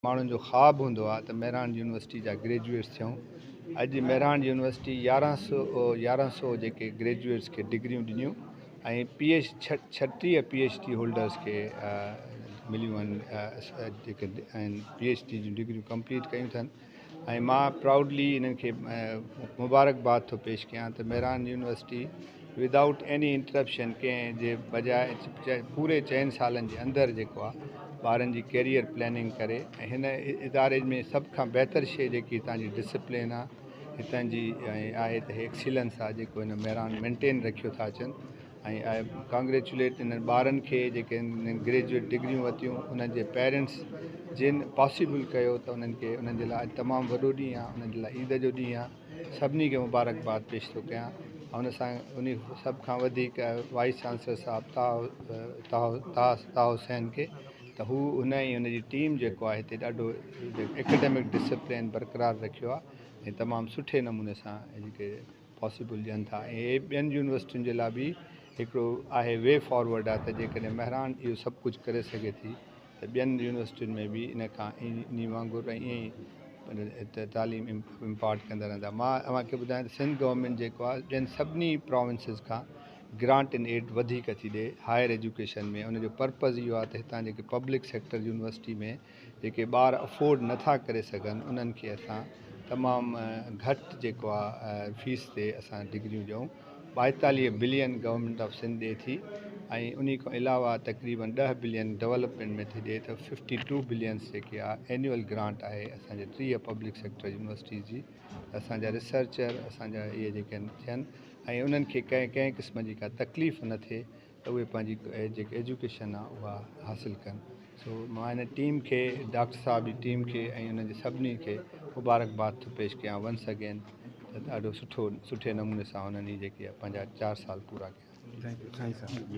ماڻهن جو خواب هوندو آهي ته مهراڻ يونيورسٽي جا گريجوئيٽس ٿيون اڄ مهراڻ يونيورسٽي يارهن سو يارهن سو جيڪي گريجوئيٽس کي ڊگريون ڏنيون ۽ پي ايچ ڇٽيهه پي ايچ ڊي هولڊرس کي مليون آهن جيڪي پي ايچ ڊي جون ڊگريون ڪمپليٽ ڪيون اٿن ۽ مان پرائوڊلي انهن کي مبارڪباد ٿو پيش ڪيان ته Mehran university Without any interruption ڪنهن جي بجاء پوري چئن سالن جي اندر جيڪو آ ٻارن جي ڪيريئر پلاننگ ڪري ۽ هن اداري ۾ سڀ کان بهتر شئي جيڪي هتان جي ڊسپلين آ هتان جي ۽ آهي ته هي ايڪسيلنس آ جيڪو هن مهراڻ مينٽين رکيو ٿا اچن ۽ آء ڪانگريچوليٽ انهن ٻارن کي جيڪي انهن گريجويٽ ڊگريون ورتيون انهن جي پيرنٽس جن پاسيبل ڪيو ته انهن کي انهن جي لاء تمام وڏو ڏينهن آ انهن جي لاء عيد جو ڏينهن آ سڀني کي مبارڪباد پيش ٿو ڪيان ان سان انهي سڀ کان وڌيڪ وائيس چانسلر صاحب طه طه حسين کي ته هو ان ۽ ان جي ٽيم جيڪو آهي هتي ڏاڍو اڪيڊمڪ ڊسپلين برقرار رکيو آهي ۽ تمام سٺي نموني سان ان کي پاسيبل ڏين ٿا ۽ هي ٻين يونيورسٽين جي لاء به هڪڙو آهي وي فارورڊ آهي ته جيڪڏهن مهراڻ اهو سڀ ڪجهه ڪري سگهي ٿي ته ٻين يونيورسٽين ۾ به ان کان انهي وانگر ائين ئي تعليم امپارٽ ڪندا رهندا. مان اوهان کي ٻڌايان ته سنڌ گورنمينٽ جيڪو آهي ٻين سڀني پراونسز کان گرانٽ ان ايڊ وڌيڪ ٿي ڏئي هائر ايجوڪيشن ۾ ان جو پرپز اهو آهي ته هتان جيڪي پبلڪ سيڪٽر يونيورسٽي ۾ جيڪي ٻار افورڊ نه ٿا ڪري سگهن انهن کي اسان تمام گهٽ جيڪو آهي فيس تي اسان ڊگريون ڏيون. ٻائيتاليهه بلين گورنمينٽ آف سنڌ ڏئي ٿي ۽ انهي کان علاوه تقريبن ڏهه بلين ڊولپمينٽ ۾ ٿي ڏئي ته ففٽي ٽو بلينس جيڪي آ اينيول گرانٽ آهي اسان جي ٽيهه پبلڪ سيڪٽر يونيورسٽيز جي ته اسان جا ريسرچر اسان جا اهي جيڪي آهن ٿين ۽ انهن کي ڪنهن ڪنهن قسم جي ڪا تڪليف نه ٿئي ته اهي پنهنجي جيڪي ايجوڪيشن آهي اها حاصل ڪن سو مان هن ٽيم کي ڊاڪٽر صاحب جي ٽيم کي ۽ انهن جي سڀني کي مبارڪ باد ٿو پيش ڪيان ونس اگين ته ڏاڍو سٺو سٺي نموني سان انهن هي جيڪي پنهنجا چار سال پورا ڪيا